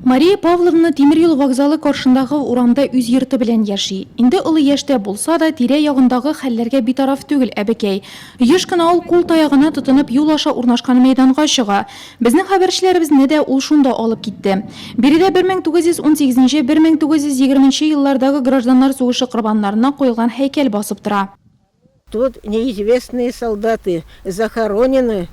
Мария Павловна тимер юл вокзалы каршындагы урамда үз йорты белән яши. Инде олы яшьтә булса да, тирә-ягындагы хәлләргә битараф түгел әбекәй. Еш кына ул кул таягына тотынып юл аша урнашкан мәйданга чыга. Безнең хәбәрчеләребезне дә ул шунда алып китте. Биредә 1918-1920 еллардагы гражданнар сугышы корбаннарына куелган һәйкәл басып тора. Тут неизвестные солдаты захоронены.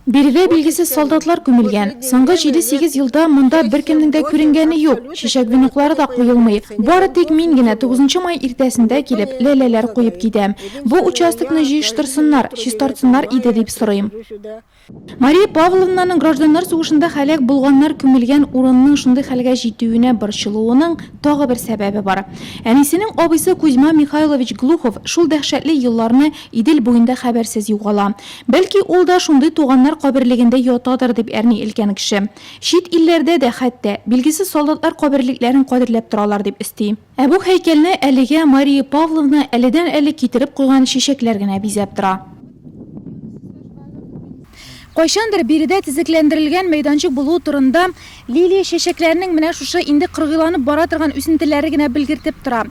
Биредә билгесез солдатлар күмелгән. Соңгы җиде-сигез елда монда беркемнең дә күренгәне юк, чәчәк веноклары да куелмый. Бары тик мин генә тугызынчы май иртәсендә килеп, ләләләр куеп китәм. Бу участокны җыештырсыннар, чистартсыннар иде, дип сорыйм. Мария Павловнаның гражданнар сугышында һәлак булганнар күмелгән урынның шундый хәлгә җитүенә борчылуының тагы бер сәбәбе бар. Әнисенең абыйсы Кузьма Михайлович Глухов шул дәһшәтле елларны Идел буенда хәбәрсез югала. Бәлки, ул да шундый туганнар каберлегендә ятадыр, дип әрни өлкән кеше. Чит илләрдә дә, хәтта, билгесез солдатлар каберлекләрен кадерләп торалар, дип өсти. Ә бу һәйкәлне әлегә Мария Павловна әледән-әле китереп куйган чәчәкләр генә бизәп тора. Кайчандыр биредә тезекләндерелгән мәйданчык булуы турында Лилия чәчәкләренең менә шушы инде кыргыйланып бара торган үсентеләре генә белгертеп тора.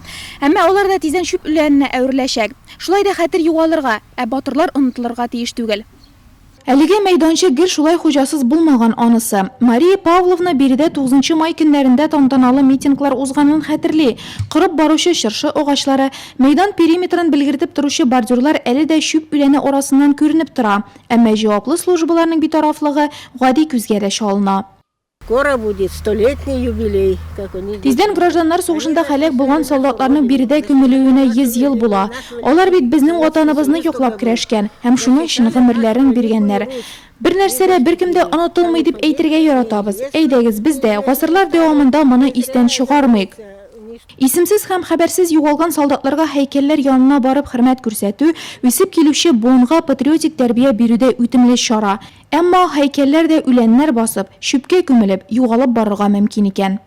Әмма алар да тиздән чүп үләненә әвереләчәк. Шулай да хәтер югалырга, ә батырлар онытылырга тиеш түгел. Әлеге мәйданчык гел шулай хуҗасыз булмаган анысы. Мария Павловна биредә тугызынчы май көннәрендә тантаналы митинглар узганын хәтерли. Корып баручы чыршы агачлары, мәйдан периметрын белгертеп торучы бордюрлар әле дә чүп үләне арасыннан күренеп тора. Әмма җаваплы службаларның битарафлыгы гади күзгә дә чалына. Скоро будет столетний юбилей, как у них. Тиздән гражданнар сугышында һәлак булган солдатларның биредә күмелүенә 100 ел була. Алар бит безнең Ватаныбызны яклап көрәшкән һәм шуның өчен гомерләрен биргәннәр. Бер нәрсә дә, беркем дә онытылмый дип әйтергә яратабыз. Әйдәгез, без дә, гасырлар дәвамында моны истән чыгармыйк. Исемсез һәм хәбәрсез югалган солдатларга һәйкәлләр янына барып хөрмәт күрсәтү, үсеп килүче буынга патриотик тәрбия бирүдә үтемле чара. Әмма һәйкәлләр дә үләннәр басып, чүпкә күмелеп, югалып барырга мөмкин икән.